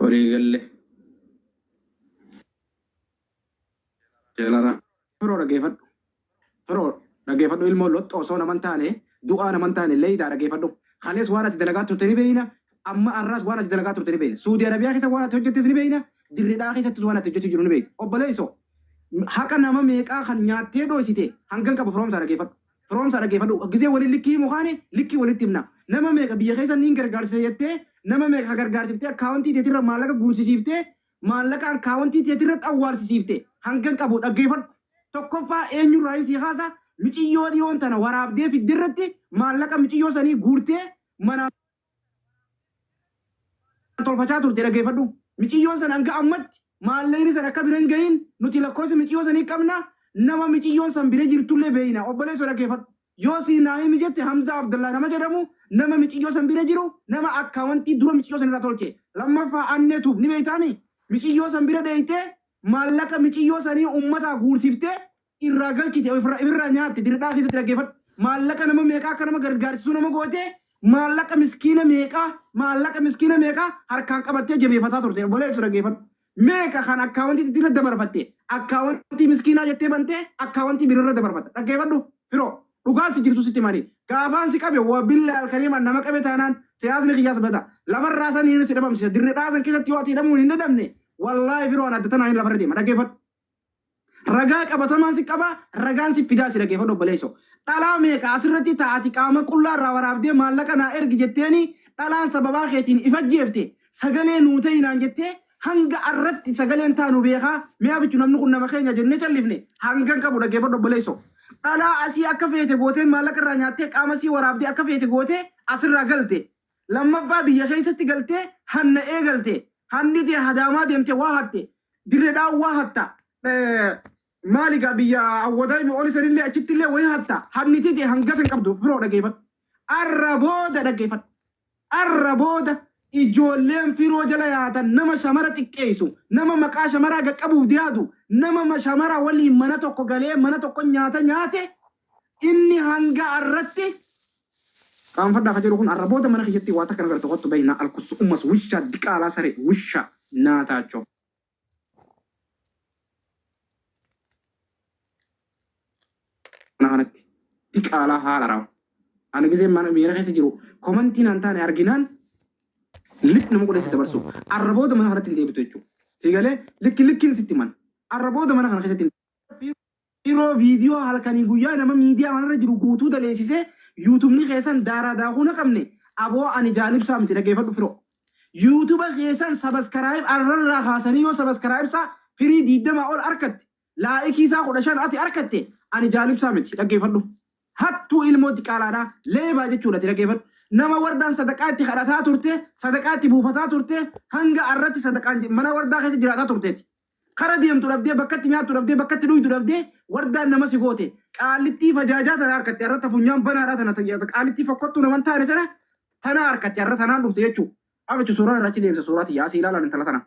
Walii galle. Jalaraa. Firoo dhageefadhu. Firoo dhageefadhu ilmoo loxxo osoo naman taane du'aa naman taane leeydaa dhageefadhu. Kalees waan ati dalagaa turte ni beeyna. Amma arraas waan ati dalagaa turte ni beeyna. Suudi Arabiyaa keessa waan ati hojjettes ni beeyna. Dirridhaa keessattis waan ati hojjetu jiru ni beeyta. Obboleesso haqa nama meeqaa kan nyaattee dhooysite hangan qabu firoomsaa dhageefadhu. Firoomsaa dhageefadhu gizee wali likki himu kaane likki walitti himna nama meeqa biyya keessa niin gargaarsisa jettee nama meeqa ka gargaarsiftee akkaawontii teetirra maallaqa guursisiiftee maallaqa akkaawontii teetirratti awwaalsisiifte hangan qabu dhaggeefadhu tokkoffaa eenyurraayin sii kaasa miciyyoo dhiyoon tana waraabdee fidderratti maallaqa miciyyoo sanii guurtee manaa tolfachaa turte dhageefadhu miciyyoon san hanga ammatti maalleyni san akka bira hin gahiin nuti lakkoosa miciyyoo sanii qabna nama miciyyoon san bira jirtullee beeyna obboleesso dhageefadhu yoo sii naa himi jette hamzaa abdallaa nama jedhamu nama miciyyoo san bira jiru nama akkaawantii dura miciyyoo san irraa tolche lammaffaa annee tuub ni beeytaami miciyyoo san bira dheeyxee maallaqa miciyyoo sanii ummataa guursiftee irraa galchite ofirraa nyaatte dirqaa keessatti dhaggeeffadhu maallaqa nama meeqaa akka nama gargaarsisuu nama goote maallaqa miskiina meeqaa maallaqa miskiina meeqaa harkaan qabattee jabeeffataa turte obboleessu dhaggeeffadhu meeqa kan akkaawwantiitti irra dabarfatte akkaawwantii miskiinaa jettee bantee akkaawwantii birarra dabarfatta dhaggeeffadhu firoo dhugaa si jirtu sitti manii gaafaan si qabe waa billaa alkariimaan nama qabe taanaan siyaasni kiyyaas bada lafarraa san hin si dhabamsiisa dirridhaa san keessatti yoo ati hidhamuun hin dadhabne wallaahi firoo an adda tanaan hin lafarra deema dhaggeeffadhu Ragaa qabatamaa si qabaa ragaan sif fidaa si dhageefadhu obboleesso. Dhalaa meeqa asirratti taa ati qaama qullaa irraa waraabdee maallaqa naa ergi jetteeni dhalaan sababaa keetiin if ajjeefte sagalee nuu ta'i naan jettee hanga arratti sagaleen taanu beekaa mee abichu namni kun nama keenya jennee callifne hangan qabu dhageefadhu obboleesso. Dhalaa asii akka feete gooteen maallaqa irraa nyaattee qaama sii waraabdee akka feete gootee asirraa galte Lammaffaa biyya keessatti galtee hanna eegalte. Hanni tee Hadaamaa deemte waa hatte. Dirre Dhawaa waa hatta. Maali gaa biyya Awwadaa fi Oli sanillee achittillee wayii hatta. Hanni tee hangasa hin qabdu firoo dhageeffadhu. Arra booda dhageeffadhu. Arra booda ijoolleen firoo jala yaatan nama shamara xiqqeessu, nama maqaa shamaraa gad qabuuf deeatu, nama shamara waliin mana tokko galee mana tokko nyaata nyaate inni hanga arratti Qaanfadhaa ka jedhu kun arra booda mana kiyyatti waa takka hin agartu kottu bahi naa alkussu ummas wushaa diqaalaa saree wushaa naataacho. Mana kanatti diqaalaa haala rawa. Ana gizeen mana miira keessa jiru komantii naan taane arginaan lik nama godhee si dabarsu arra booda mana kanatti hin deebitu jechuudha. Si galee likki likkiin sitti man arra booda mana kana keessatti hin Dhiiroo viidiyoo halkanii guyyaa nama miidiyaa kanarra jiru guutuu daleessisee yuutubni keessan daaraa daakuu na qabne aboo ani jaalibsaa miti dhageefadhu firoo. Yuutuba keessan sabaskaraayib arrarraa kaasanii yoo sabaskaraayibsaa firii diiddamaa ol arkatte laa'ikiisaa kudha shan ati arkatte ani jaalibsaa miti dhageefadhu. Hattuu ilmoo diqaalaadhaa leebaa jechuudha ati dhageefadhu. Nama wardaan sadaqaa itti kadhataa turte sadaqaa itti buufataa turte hanga arratti sadaqaan mana wardaa keessa jiraataa turteeti. Kara deemtu dhabdee, bakka itti nyaattu dhabdee, bakka itti dhuydu dhabdee, wardaan nama si goote. Qaallittii fajaajaa tana arkatte arra ta funyaan banaadhaa tana ta qaallittii fokkottuu nama hin taane tana tana arkatte arra tanaan dhufte jechuu. Abichu suuraa irraa achi deebisa suuraa tiyya asii ilaalaan intala tana.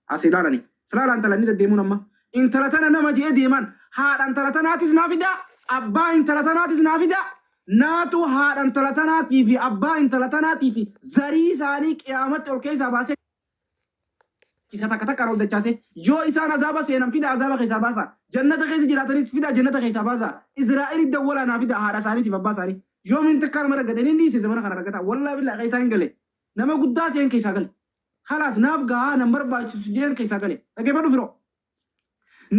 Asii ilaalani. Silaalaa intala inni deddeemuun amma. Intala tana nama je'ee deemaan. Haadha intala tanaatis naa fidaa, abbaa intala tanaatis naa fidaa, naatu haadha intala tanaatii fi abbaa intala tanaatii fi zarii isaanii qiyaamatti ol keessaa baasee. isa takka takkaan ol dachaasee yoo isaan azaaba seenan fidaa azaaba keessaa baasaa jannata keessa jiraatanis fidaa jannata keessaa baasaa Israa'eliif dawwalaa naa fidaa haadha isaaniitiif abbaa isaanii yoomiin takkaa nama raggate inni dhiise zamana kana raggataa wallaa billaa keessaa hin gale nama guddaa ta'een keessaa gale khalaas naaf gahaa nan barbaachisu jeen keessaa gale dhaggeeffadhu firoo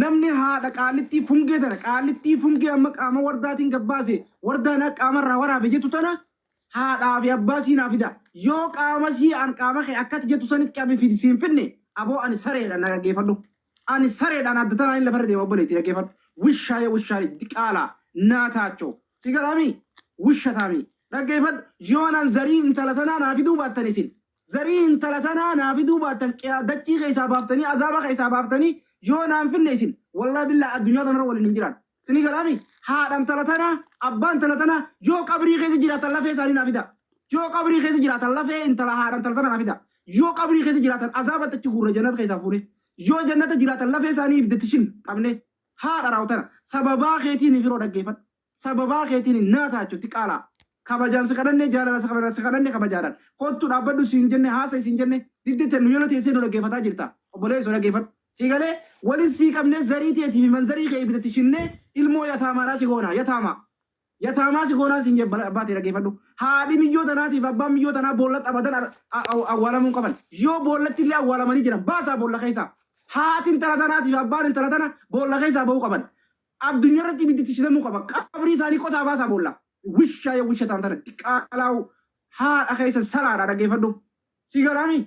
Namni haadha qaallittii fungee tana qaallittii fungee amma qaama wardaatiin gad baase wardaan akka qaama irraa waraabe jettu tana haadhaa fi abbaa sii naa fidaa yoo qaama sii an qaama kee akka ati jettu sanitti qabi fidi siin finne aboo ani sareedha na dhaggeeffadhu ani sareedha ana adda tanaan lafarra deema obboleetti dhaggeeffadhu wishaa yoo wishaa diqaalaa naa taachoo si galaami wisha taami dhaggeeffadhu yoo nan zarii intala tanaa naa fiduu baattan isin Zarii intala tanaa naa fiduu baattan qiyaa dachii keessaa baaftanii azaaba keessaa baaftanii yoo naa hin finne isin wallahi billahi addunyaa tanarra waliin hin jiraannu isinii galaamii haadha intala tanaa abbaa intala tanaa yoo qabrii keessa jiraatan lafee isaanii naa fidaa yoo qabrii keessa jiraatan lafee intala haadha intala tanaa naa fidaa yoo qabrii keessa jiraatan azaabatti achi guurra jannata keessaa fuunee yoo jannata jiraatan lafee isaanii ibiddatti shin qabnee haadha raawtana sababaa keetii ni firoo dhaggeeffadhu Sababaa keetiin hin naataachu Diqaalaa. Kabajaan si kadhannee jaalalaa si kabajaan si kadhannee kabajaadhaan. Kottu dhaabbadhu siin jennee haasa'i siin jennee didde tennu yona teessee nu dhaggeeffataa jirta. Obboleesso dhaggeeffadhu. Sii galee? Walis sii qabnee zarii teetii fi manzarii kee ibiddatti shinnee ilmoo yataamaadhaa si goonaa. Yataamaa. Yataamaa si goonaan siin jedhe abbaa tee dhaggeeffadhu. Haadhi miyyoo tanaatii fi abbaan miyyoo tanaa boollatti abadan awwaalamuu hin qaban. Yoo boollatti illee awwaalamanii jiran baasaa boolla keessaa. Haati intala tanaatii fi abbaan intala tana boolla keessaa ba'uu qaban. Addunyarratti ibiddi itti shitamuu qaba. Qabrii isaanii qotaa baasaa boollaa. Wishaa ya wishataam tana diqaalaawu haadha keessan salaadha dhaggeeffadhu. Si galaami?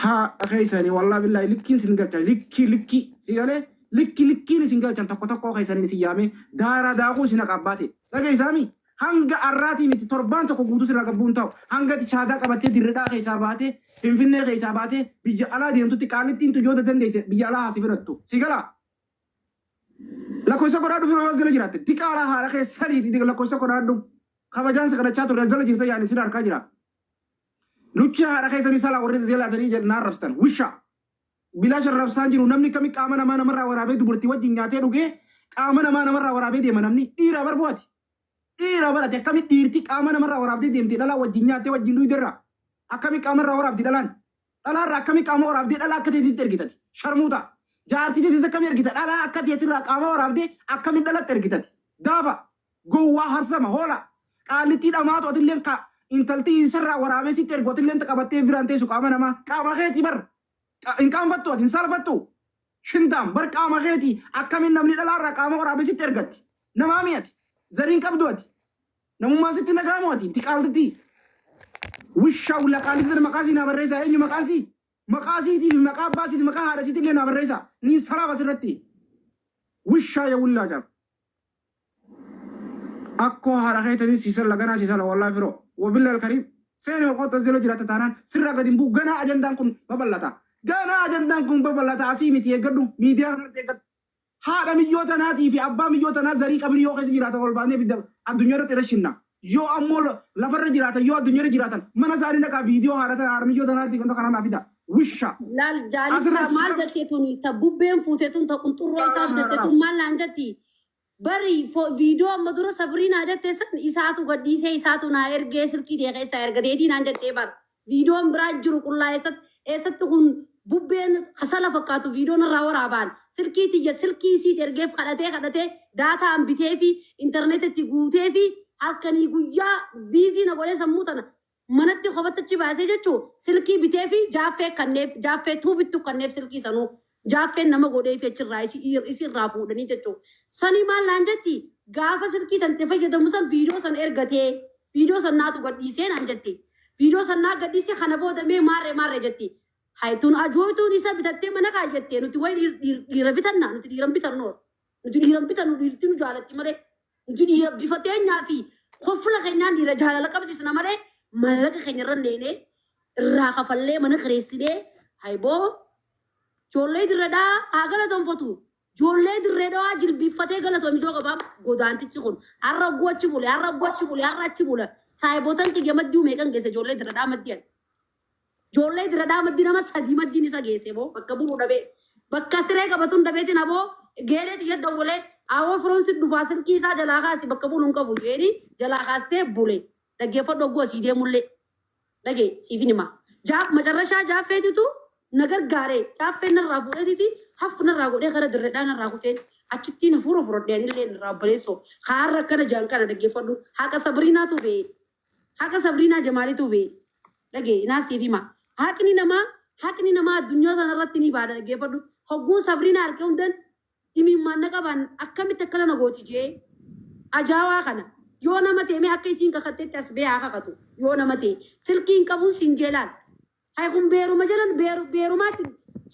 Haadha keessanii wallaah billaahi likkiin sin galchan likkii likkii si galee likki likkiin isin galchan tokko tokkoo keessaniin isin yaamee daaraa daakuu isin haqa abbaa tee dhageessaami? Hanga arraatii miti torbaan tokko guutuu sirraa gabbuu hin taa'u. Hanga ati shaadaa qabattee dirredhaa keessaa baatee finfinnee keessaa baatee biyya alaa deemtutti qaallittiin tun yoo dadandeesse biyya alaa haa si fudhattu. Si galaa? Lakkoofsa godhaadhu fira waan sila jiraatte. Diqaalaa haadha kee saniiti diqa lakkoofsa godhaadhu. Kabajaan si kadhachaa turre as jala jirta yaani sin harkaa jira. Luchii haadha kee sanii salaa warri jalaatanii jedhan arrabstan. Wishaa. Bilaa sharrabsaan jiru namni kami qaama namaa namarraa waraabee dubartii wajjin nyaatee dhugee qaama namaa namarraa waraabee deema namni dhiiraa barbu'ati. Dhiira bar ati akkamitti dhiirti qaama namarraa waraabdee deemte dhalaa wajjin nyaattee wajjin dhuyde irraa akkamitti qaama irraa waraabdi dhalaan dhalaa irraa akkamitti qaama waraabdee dhalaa akka teetitti ergita ati sharmuuxa jaartii teetitti akkamitti ergita dhalaa akka teetirraa qaama waraabdee akkamitti dhalatti ergita ati daafa gowwaa harsama hoola qaallittii dhamaatu atilleen ka intalti isarraa waraabee sitti ergu atilleen ta qabattee biraan teessu qaama namaa qaama keetii bar Hin qaanfattuu ati? Hin saalfattuu? Shintaam! Bar qaama keeti akkamiin namni dhalaa irraa qaama waraabee sitti ergatti? Namaamii ati? Zarii hin qabduu ati? Namummaan sitti hin dhaga'amuu ati? Inti qaaltittii! Wushaa wula qaalitti tana maqaa sii naa barreessaa eenyu maqaan sii? Maqaa siitii fi maqaa abbaa siiti maqaa haadha siitillee naa barreessaa. Niin salaaf asirratti. Wushaa ya wullaa caaf. Akkoo haadha keetanii sii salla ganaa sii salla wallahi firoo wabillahi alkariim seeni ol qotta zelo jiraatta taanaan sirraa gad hin bu'u ganaa ajandaan kun babal'ata ganaa ajandaan kun babal'ata asii miti eeggadhu miidiyaa kanarratti eeggadhu haadha miyyoo tanaatii fi abbaa miyyoo tanaa zarii qabirii yoo keessa jiraatan ol baafnee ibidda addunyaa irratti irra shinna Yoo ammo lafarra jiraatan yoo addunyarra jiraatan mana isaani dhaqaa video haadha tana harmiyyoo tanaati ganda kana naa fidaa. Wisha. Laal jaalichaa maal jette tuni ta bubbeen fuute tun ta qunxurroo isaa bitatte tun maal naan jetti bari viidoo amma dura sabriinaa jette san isaatu gadhiisee isaatu naa ergee silkii tee keessaa ergateetii naan jettee bar. Viidiyoon biraa jiru qullaa eessatti eessatti kun bubbeen kasala fakkaatu viidiyoo narraa waraabaan silkii tiyya silkii isiiti ergeef kadhatee kadhatee daataan biteefi internet itti guuteefi halkanii guyyaa biizii na godhee sammuu tana manatti kophatti achi baasee jechuu silkii biteefi jaaffee kanneef jaaffee tuubittu kanneef silkii sanuu Jaaffeen nama godheefi achirraa isi irraa fuudhanii jechuu. Sanii maal naan jetti gaafa silkii tante fayyadamu san viidiyoo san ergatee viidiyoo san naatu gadhiisee naan jetti. Viidiyoo san naa gadhiise kana booda mee maarre maarre jetti. Hay tun ajooytuun isa bitattee mana kaayyattee nuti way dhiira bitanna nuti dhiiran bitannu. Nuti dhiiran bitannu dhiirti nu jaalatti malee nuti dhiira bifa teenyaa fi kofla keenyaan dhiira jaalala qabsiisna malee maallaqa keenya irra neenee irraa kafallee mana kireessinee hayboo joollee dirredhaa haa galatomfatu joollee dirredhaa jilbiiffatee galatoom ijoo qabaa godaantichi kun har'a ogguu achi bule har'a ogguu achi bule har'a achi bula saayibotan xiyya maddii meeqan geesse joollee dirredhaa maddiyan. Ijoollee dira dhaa maddii nama sadii maddiin isa geessee boo bakka bulu dhabee bakka siree qabatun dabeetiin aboo geeree tiyya dawwalee aawoo firoon si dhufaa silkii isaa jalaa kaasi bakka bulu hin qabu jeeni jalaa kaastee bule dhaggeeffadhu ogguu asii deemullee dhagee siifin himaa jaaf macarrashaa jaaffeetitu na gargaaree jaaffeen narraa fuudheetiiti haffu narraa godhee kara dirre dhaa narraa kuteen achittiin hafuura furadhee anillee narraa obboleessoo haarra akkana jaan kana dhaggeeffadhu haqa sabriinaatu bee Haqa sabriinaa jamaalituu bee dhage inaas siif hima haqni namaa haqni namaa addunyaa sana irratti ni baada dhaggeeffadhu hogguun sabriinaa arke hundan imiimmaan na qabaan akkamitti akkana na gooti jee ajaawaa kana yoo nama ta'e mee akka isiin kakattetti as bee haa kakatu yoo nama ta'e silkii hin qabuun siin jee laal Hay kun beeruma jalan beeru beerumaatti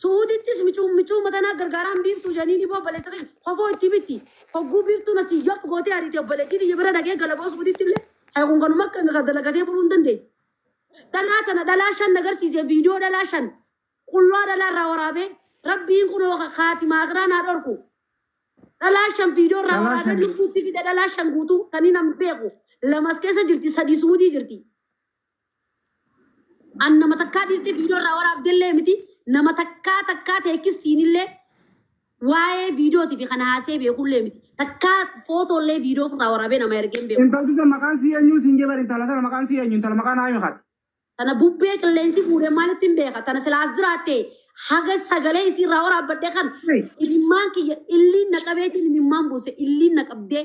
su'uudittis micuun micuu matanaa gargaaraan biiftuu janiin iboo obboleessa kiyya kofoo itti bitti hogguu biiftuun asii yop gootee ariite obboleettii tiyya bira dhaqee galaboo su'uudittillee hay kun kanuma akka inni kan dalagatee buluu hin dandeenye dhalaa tana dhalaa shan nagarsiise viidiyoo dhalaa shan qullaa dhalaa irraa waraabee rabbiin kunoo ka kaatimaa akhiraa naa dhorku dhalaa shan viidiyoo irraa Dhalaa waraabee shan. lubbuutti fide dhalaa shan guutuu taniin an beeku lamas keessa jirti sadii suudii jirti An nama takkaa dhiistee viidiyoo irraa waraabdellee miti nama takkaa takkaa teekistiinillee waa'ee viidiyootii fi kan haasee beekullee miti takkaa footoollee viidiyoo ofirraa waraabee nama ergee hin beeku. Intalti san maqaan sii eenyu siin jee bar intala tana maqaan sii eenyu intala maqaa naayimi kaati. Tana bubbee qilleensi fuudhee maalitti hin beeka tana silaas jiraatte haga sagalee isii irraa waraabbadhe kan Hey. imimmaan kiyya illiin na qabeetiin imimmaan buuse illiin na qabdee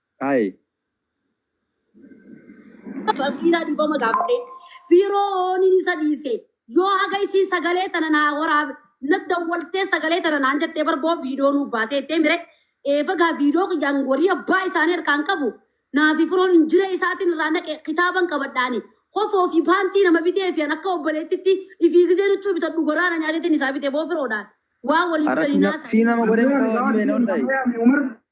Ayi. Famiilaa dhifama gaafadhee firooniin isa dhiise yoo haga isii sagalee tana naa waraab na dawwaltee sagalee tana naan jettee bar boo viidoo nuuf baasee jettee mire eefagaa viidoo kiyyaan warii abbaa isaanii harkaan qabu naa fi firoon injiree isaatiin irraa naqe kitaaban qabadhaani kofoo fi paantii nama bitee fi an akka obboleettitti ifii gizee nuchuu bitadhu goraana nyaateetiin isaa bite boo firoodhaan waa waliif Ara galinaa sina isaa sina ma godhe Abdullah, ko Ridwan, me non Yusuf, dai. Amaya, Amaya, Umar.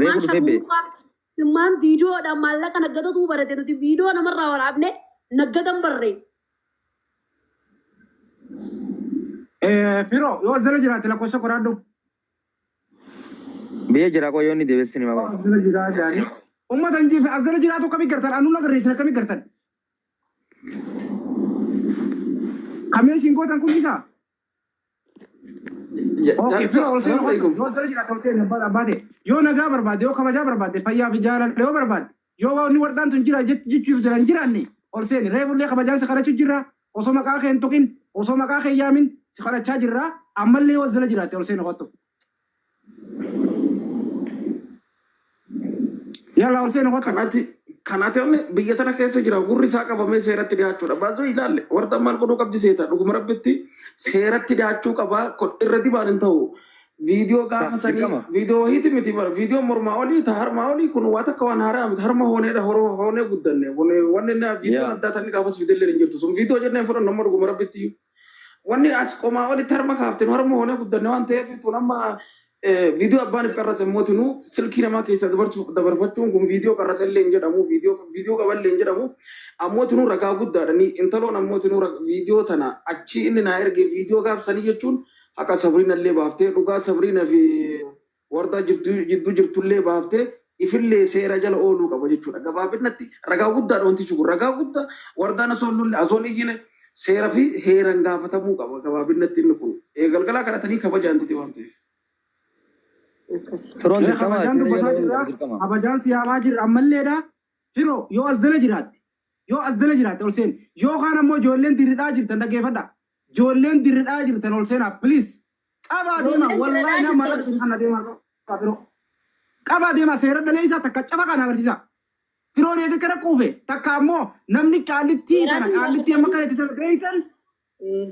Reefu dhufee bee. Ilmaan viidiyoodhaan maallaqa naggatatuu barate nuti viidiyoo namarraa waraabne naggatan barre. Firo yoo zala jiraate lakkoofsa qoraadhu. Biyya jira koo yoo ni deebisni ni maqaa. Zala jiraa jaani. Uummata hin jiife as zala jiraatu akkamii gartan anu na garreessin akkamii gartan. Kameeshiin gootan kun isaa. Okay, fira ol seenu qabdu. Yoo sirra jiraata ol seenu abbaa abbaa ta'e. Yoo nagaa barbaadde, yoo kabajaa barbaadde, fayyaa fi jaalala yoo barbaadde, yoo waaqni waldhaan tun jira jech- jechuuf jira hin jiraanne ol seeni. Reefullee kabajaan si kadhachuu jirra. Osoo maqaa kee hin tuqin, osoo maqaa kee hin yaamin si kadhachaa jirra. Ammallee yoo sirra jiraatte ol seenu kottu. Yala Hussein Hota. Kanati kanati onni biyya tana keessa jira gurri isaa qabamee seeratti dhiyaachuudha. Baazoo ilaalle warda maal godhuu qabdi seeta dhuguma rabbitti seeratti dhiyaachuu qaba kun irra dibaan hin ta'u. Viidiyoo gaafa sanii Dirqama. viidiyoo wahiiti miti bara viidiyoo mormaa olii ta harmaa olii kun waa takka waan haaraa miti harma hooneedha horoo hoonee guddanne kun wanni inni viidiyoon Yaa. addaa tanni gaafas fidellee hin jirtu sun viidiyoo jennee hin fudhannu amma dhuguma rabbitti. Wanni as qomaa olitti harma kaafte nu harma hoonee guddanne waan ta'eef tun amma viidiyoo abbaaniif qarrase immooti nu silkii namaa keessaa dabarfachuun kun viidiyoo qarrase illee hin jedhamu viidiyoo qaban illee hin jedhamu ammooti nu ragaa guddaadha ni intaloon ammooti nu viidiyoo tana achii inni naa erge viidiyoo gaafsanii jechuun haqa sabriina illee baaftee dhugaa sabriina fi Wardaa jidduu jirtullee baaftee ifillee seera jala ooluu qaba jechuudha. Gabaabinatti ragaa guddaadha wantichi kun. Ragaa guddaa wardaan osoo hin lollee, osoo hin iyyine seera fi heeran gaafatamuu qaba gabaabinatti inni kun. Galgalaa kadhatanii kabajaan titi waan ta'eef. Firoon Mee dirqama kabajaan seera jala dubbataa ooluun jirra. qabu dirqama. Kabajaan si yaamaa jirra ammalleedha. Firoo yoo as jala jiraatte. Yoo as jala jiraatte ol seeni. Yoo kaan ammoo ijoolleen dirridhaa jirtan dhaggeeffadha. Ijoolleen dirridhaa jirtan ol seenaa please. Qabaa deemaa Ijoolleen wallahi seeraa nama mallaqa jirtan. isin kanna deemaa qabaa firoo. Qabaa deemaa seera daleessaa takka cafa kana agarsiisaa. Firoon eega kana quufe takka ammoo namni qaallittii Seeraa tana jirtan qaallittii amma kana itti tana beeytan Eh,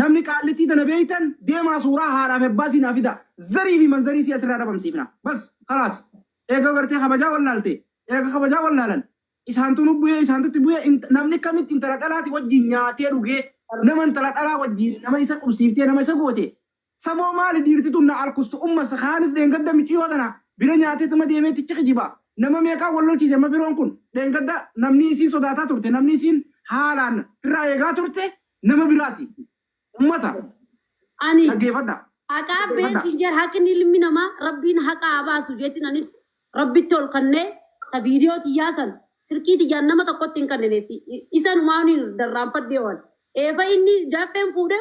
namni qaallittii tana beeytan deemaa suuraa haadhaaf abbaa siinaa fida zarii fi manzarii si asirraa dhabamsiifna. Bas kalaas eega gartee kabajaa wallaalte eega kabajaa wallaalan Isaantu nu bu'e, isaantu itti bu'e, int, namni kamitti intala dhalaati wajjiin nyaatee dhugee, nama intala dhalaa wajjiin nama isa qubsiiftee, nama isa goote, samoo maali dhiirti tun na alkustu ummas kaanis dheengadda miciyoo tana bira nyaatee tuma deemee tichi kijiba, nama meeqaa wal lolchiise amma firoon kun, dheengadda namni isiin sodaataa turte, namni isiin haalaan firraa eegaa turte nama biraati. Ummata Ani dhaggeeffadha. haqaa Dhaggeeffadha. beetiin jedha haqni ilmi namaa rabbiin haqaa haa baasu jeetiin anis rabbitti ol kannee ta viidiyoo tiyyaa san silkii tiyyaan nama tokkotti hin kannineetti isanumaa ni darraanfadhee waan eefa inni jaaffeen fuudhee